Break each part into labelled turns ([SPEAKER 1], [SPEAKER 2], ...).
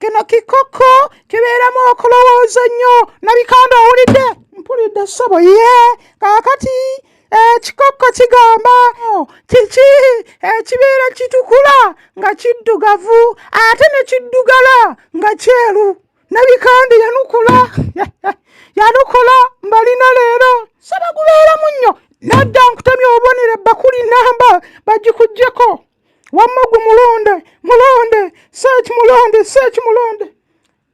[SPEAKER 1] kino kikoko kibeeramu okulowooza nnyo nabikanda owulidde mpulidde ssebo ye kaakati ekikokko kigamba oh, kiki ekibeera kitukula nga kiddugavu ate ne kiddugala nga kyeru nabikande yanukula yanukula mbalina leero saba gubeeramu nnyo nadda nkutemya obubonero ebbakuli namba bagikugyeko wamma gwe mulonde mulonde seeki mulonde seeki mulonde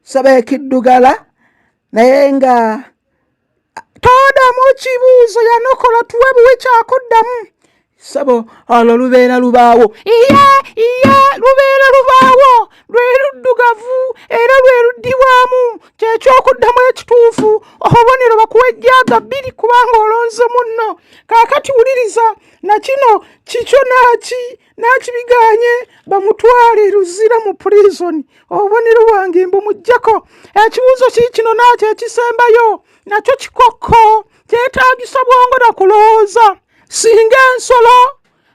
[SPEAKER 1] saba ekiddugala naye nga todamu kibuuzo yanokola tuwe buwe kyakuddamu sabo olwo lubeera lubaawo iya iya lubeera lubaawo lwe luddugavu era lwe luddibwamu kyekyokuddamu ekituufu obubonero bakuwa ejjaaga bbiri kubanga olonze munno kaakati wuliriza na kino kikyo naki nakibiganye bamutwale luzira mu prizoni obubonero bwange mbumujjako ekibuuzo kii kino nakyo ekisembayo nakyo kikokko kyetagisa bwongo na kulowooza singa ensolo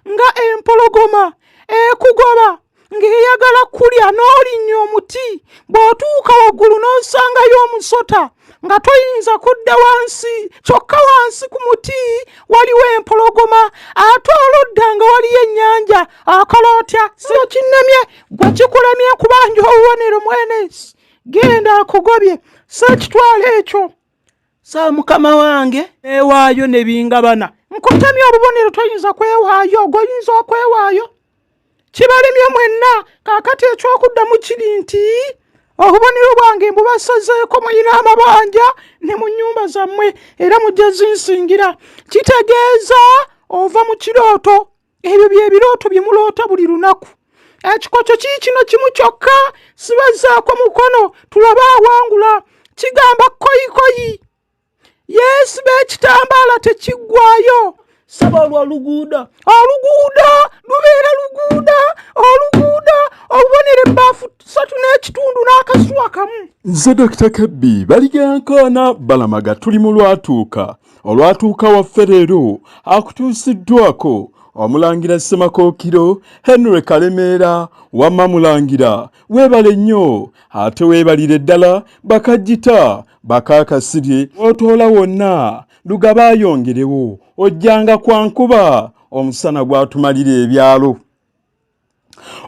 [SPEAKER 1] nga empologoma ekugoba ng'eyagala kulya n'olinnya omuti bw'otuuka waggulu n'osangayo omusota nga toyinza kudda wansi kyokka wansi ku muti waliwo empologoma ate oludda nga waliyo ennyanja akola otya sino kinnemye gwe kikulemye kubanja obubonero mwenesi genda akugobye sekitwala ekyo sa mukama wange ewaayo nebingabana nkutamya obubonero toyinza kwewaayo ogoyinza okwewaayo kibalemye mwenna kakati ekyokuddamu kiri nti obubonero bwange mbubasazeeko muyina amabanja ne mu nyumba zammwe era mujja zinsingira kitegeeza ova mu kirooto ebyo byebirooto bye muloota buli lunaku ekikoco kii kino kimu kyokka sibazaako mukono tulaba awangula kigamba koyikoyi yesu beekitambaala tekiggwayo saba olwo oluguuda oluguuda lubeera luguuda oluguuda olubonera ebbaafu satu n'ekitundu n'akasuwa kamu nze dokita kebbi
[SPEAKER 2] baligankoona balamaga tuli mu lwatuuka olwatuuka waffe leero akutuusiddwako omulangira ssemakookiro henry kalemeera wamma mulangira weebale nnyo ate weebalire ddala bakajjita bakaakasirye otoola wonna lugaba ayongerewo ojjanga kwankuba omusana gwatumalira ebyalo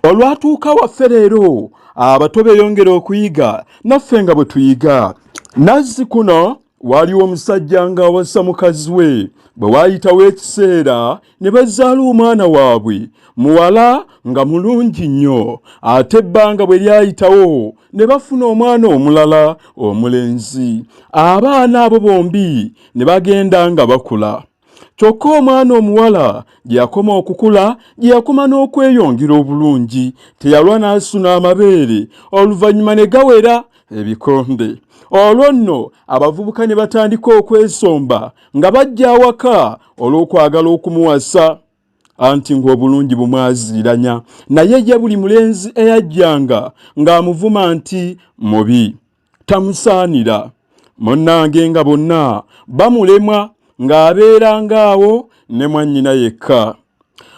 [SPEAKER 2] olwatuuka waffe leero abato beyongera okuyiga naffe nga bwe tuyiga nazzi kuno waaliwo omusajja ng'awasa mukazi we bwe waayitawo ekiseera ne bazaala omwana waabwe muwala nga mulungi nnyo ate ebbanga bwe lyayitawo ne bafuna omwana omulala omulenzi abaana abo bombi ne bagenda nga bakula kyokka omwana omuwala gye yakoma okukula gye yakoma n'okweyongera obulungi teyalwa n'asuna amabeere oluvannyuma ne gawera ebikonde olwo nno abavubuka ne batandika okwesomba nga bajja awaka olw'okwagala okumuwasa anti ng'obulungi bumwaziiranya naye ye buli mulenzi eyajjanga ng'amuvuma nti mubi tamusaanira munnange nga bonna bamulemwa ng'abeeranga awo ne mwannyina yekka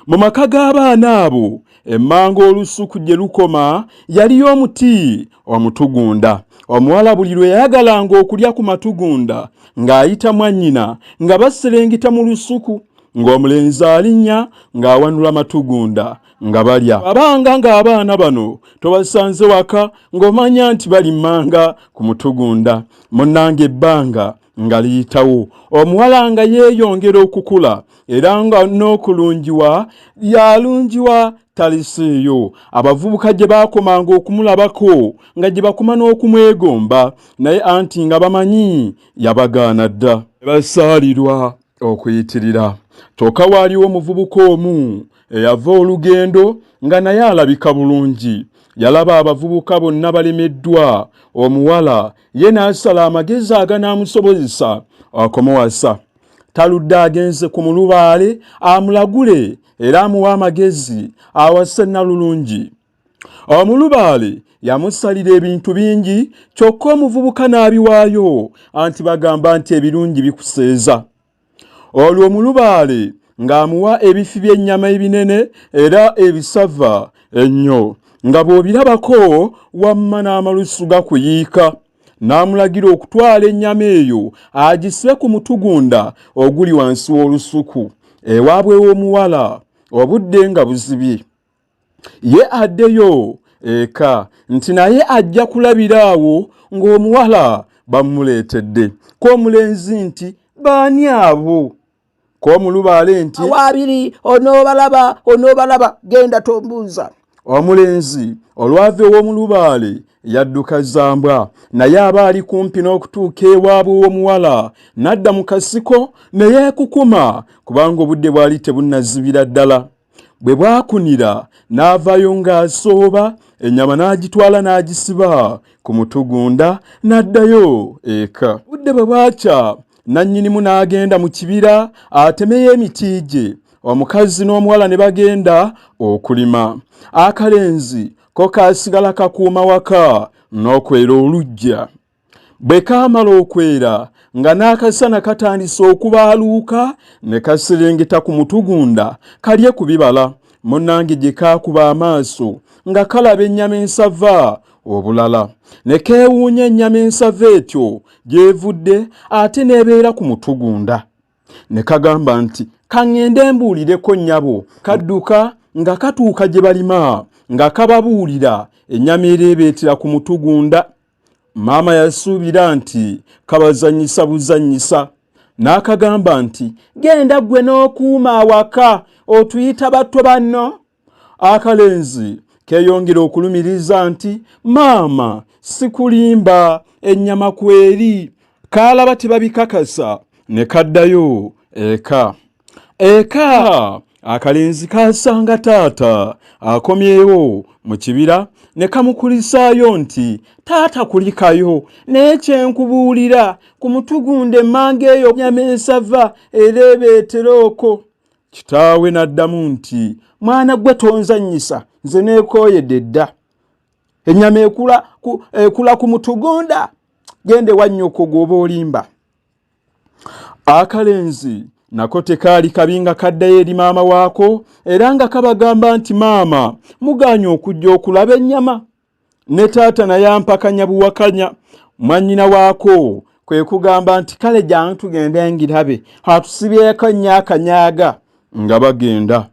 [SPEAKER 2] mu maka g'abaana abo emmanga olusuku gye lukoma yaliyo omuti omutugunda omuwala buli lwe yayagalanga okulya ku matugunda ng'ayita mwannyina nga baserengeta mu lusuku ng'omulenzi alinnya ng'awanula matugunda nga balya abanga ng'abaana bano tobasanze waka ng'omanya nti balimanga ku mutugunda munnanga ebbanga nga liyitawo omuwala nga yeeyongera okukula era nga n'okulungiwa yalungiwa talisiiyo abavubuka gye baakomanga okumulabako nga gye bakuma n'okumwegomba naye anti nga bamanyi yabagaana dda basaalirwa okuyitirira kyoka waaliwo omuvubuka omu eyava olugendo nga naye alabika bulungi yalaba abavubuka bonna balemeddwa omuwala ye n'asala amagezi aganaamusobozesa okumuwasa taludde agenze ku mulubaale amulagule era amuwa amagezi awase nalulungi Omulubaale yamusalira ebintu bingi kyokka omuvubuka n'abiwaayo anti bagamba nti ebirungi bikuseeza. Olwo omulubaale ng'amuwa ebifi by'ennyama ebinene era ebisava ennyo nga bw'obirabako wamma n'amalusu gakuyiika n'amulagira okutwala ennyama eyo agise ku mutugunda oguli wansi w'olusuku ewaabwe w'omuwala obudde nga buzibye. ye addeyo eka nti naye ajja kulabira awo ng'omuwala bamuleetedde k'omulenzi nti baani abo k'omulubaale nti waabiri
[SPEAKER 1] onoobalaba onoobalaba genda tombuuza omulenzi
[SPEAKER 2] olwava ew'omulubaale yadduka zambwa naye aba ali kumpi n'okutuuka ewaabwe w'omuwala n'adda mu kasiko ne yeekukuma kubanga obudde bwali tebunnazibira ddala bwe bwakunira n'avaayo ng'asooba ennyama n'agitwala n'agisiba ku mutugunda n'addayo eka budde bwe bwakya nannyinimu n'agenda mu kibira atemeyo emiti gye omukazi n'omuwala ne bagenda okulima akalenzi ko kaasigala kakuuma waka n'okwera oluggya Bwe kaamala okwera nga n'akasana katandise okubaaluuka ne kasiringita ku mutugunda kalye ku bibala munnange gye kaakuba amaaso nga kalaba ennyama ensava obulala ne keewuunya ennyama ensava etyo gy'evudde ate n'ebeera ku mutugunda ne kagamba nti kaŋŋende mbuulireko nnyabo kadduka nga katuuka gye balima nga kababuulira ennyama ereebeetera ku mutugunda Maama yasuubira nti kabazannyisa buzannyisa n'akagamba nti genda ggwe n'okuuma awaka otuyita batto banno akalenzi keeyongera okulumiriza nti maama sikulimba ennyama kweri kaalaba tebabikakasa ne kaddayo eka eka akalenzi kaasanga taata akomyewo mu kibira ne kamukulisaayo nti taata kulikayo naye kyenkubuulira ku mutugunda emmanga eyo nyama ensava ereebeetera oko kitaawe n'addamu nti mwana gwe tonzannyisa nze neekooyedde dda ennyama ekula ku mutugunda genda ewa nnyoko gwoba olimba akalenzi nako tekaali kabi nga kaddayo eri maama waako era nga kabagamba nti maama mugaanye okujja okulaba ennyama ne taata naye ampakanya buwakanya mwannyina waako kwe kugamba nti kale gyange tugende ngirabe atusibyeko nnyo akanyaaga nga bagenda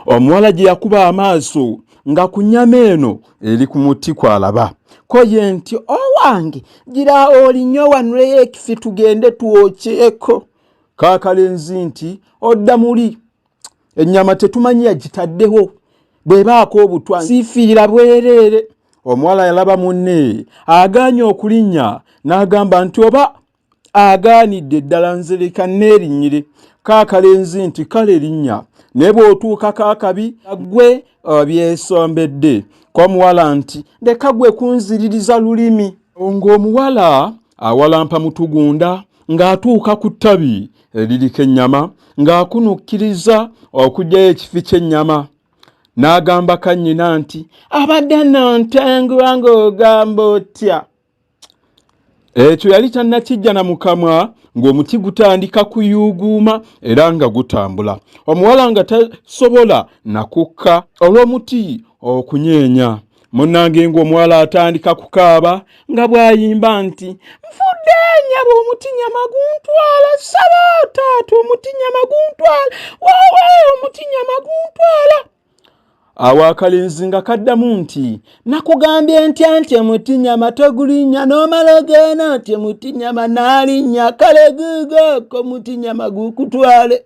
[SPEAKER 2] omuwala gye yakuba amaaso nga ku nyama eno eri ku muti kwalaba koye nti owange gira olinyo wanuleyo ekifi tugende twokyeko kakalenzi nti odda muli ennyama tetumanyi yagitaddeho bwebaako obutwa sifiira bwereere omuwala yalaba munne aganye okulinnya n'agamba nti oba agaanidde ddala nzireka neerinyire kaakalenzi nti kale linnya naye bw'otuukako akabi gwe uh, byesombedde komuwala nti leka gwe kunziririza lulimi ng'omuwala awalampa mutugunda ng'atuuka ku ttabi eririko ennyama ng'akunukkiriza okugyayo ekifi ky'ennyama n'agamba kannyina nti abadde nantengwa ng'ogamba otya ekyo yali tannakijja na mukamwa ng'omuti gutandika kuyuuguuma era nga gutambula omuwala nga tasobola nakukka olw'omuti okunyeenya munnange ng'omuwala atandika kukaaba nga bw'ayimba nti nfudde nyaba omuti nyama guntwala saba taata omuti nyama guntwala wawe omuti nyama guntwala awo akalenzi nga kaddamu nti nakugambye ntya nti emutinyama togulinnya n'omala ogeena nti emutinyama naalinnya kale guugooko mutinyama guukutwale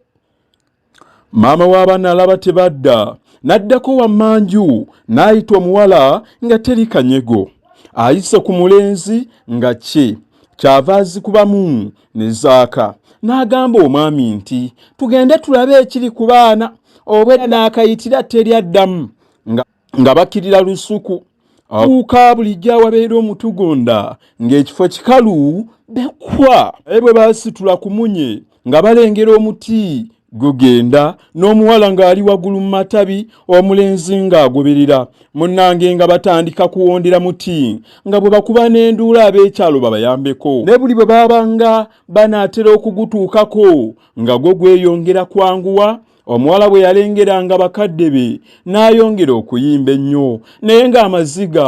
[SPEAKER 2] maama w'abaana alaba tebadda n'addako wammanju n'ayita omuwala nga teri kanyego ayise ku mulenzi nga kye kyava azikubamu ne zaaka n'agamba omwami nti tugende tulabe ekiri ku baana obwedda n'akayitira teri addamu nga bakkirira lusuku abuuka bulijjo awabeera omutugonda ng'ekifo kikalu bekwa naye bwe baasitula ku munye nga balengera omuti gugenda n'omuwala ng'ali waggulu mu matabi omulenzi ng'agoberera munnange nga batandika kuwondera muti nga bwe bakuba n'enduula ab'ekyalo babayambeko ne buli bwe baabanga banaatera okugutuukako nga gwo gweyongera kwanguwa omuwala bwe yalengeranga bakadde be n'ayongera okuyimba ennyo naye ng'amaziga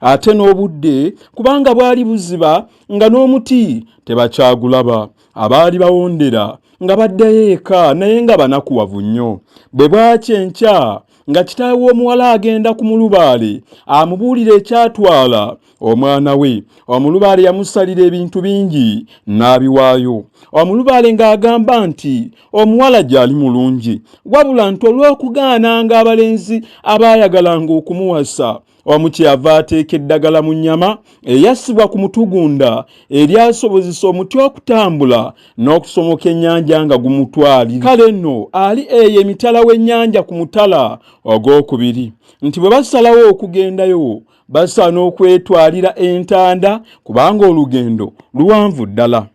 [SPEAKER 2] ate n'obudde kubanga bwali buziba nga n'omuti tebakyagulaba abaali bawondera nga baddayo eka naye nga banakuwavu nnyo bwe bwaki enkya nga kitaawe w'omuwala agenda ku mulubaale amubuulira ekyatwala omwana we omulubaale yamusalira ebintu bingi n'abiwaayo omulubaale ng'agamba nti omuwala gy'ali mulungi wabula nti olw'okugaananga abalenzi abaayagalanga okumuwasa wamu kyeyava ateeka eddagala mu nnyama eyassibwa ku mutugunda eryasobozesa omuti okutambula n'okusomoka ennyanja nga gumutwali kale nno ali eyo emitala w'ennyanja ku mutala ogwokubiri nti bwe basalawo okugendayo basaana okwetwalira entanda kubanga olugendo luwanvu ddala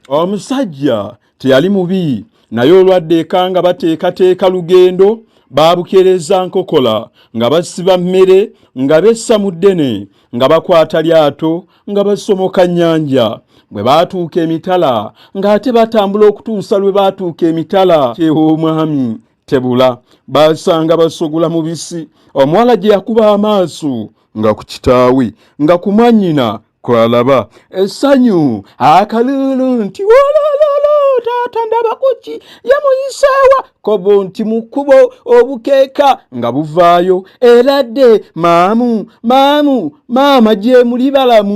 [SPEAKER 2] Omusajja teyali mubi naye olwadde ekanga bateekateeka lugendo baabukereza nkokola nga basiba mmere nga bessa mu ddene nga bakwata lyato nga basomoka nnyanja bwe baatuuka emitala ng'ate batambula okutuusa lwe baatuuka emitala kyew'omwami tebula baasanga basogula mubisi omuwala gye yakuba amaaso nga ku kitaawe nga ku mwannyina kwalaba essanyu akalulu nti wolololo taata ndaba kuki yamuyiseewa kobo nti mu kkubo obukeeka nga buvaayo era dde maamu maamu maama gyemuli balamu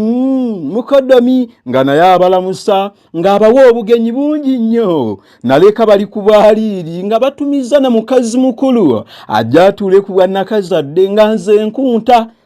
[SPEAKER 2] mukodomi nga naye abalamusa ng'abawa obugenyi bungi nnyo naleka bali ku bwaliiri nga batumiza na mukazi mukulu ajja atuule ku bwannakazadde nga nze nkunta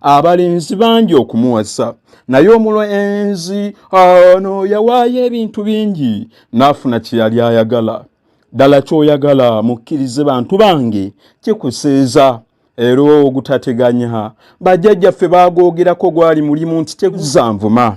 [SPEAKER 2] abalenzi bangi okumuwasa naye omulenzi ono yawaayo ebintu bingi n'afuna kye yali ayagala ddala kyoyagala mukkirize bantu bange kikuseeza era ogutateganya bajjajjaffe baagoogerako gwali mulimu nti tekuzanvuma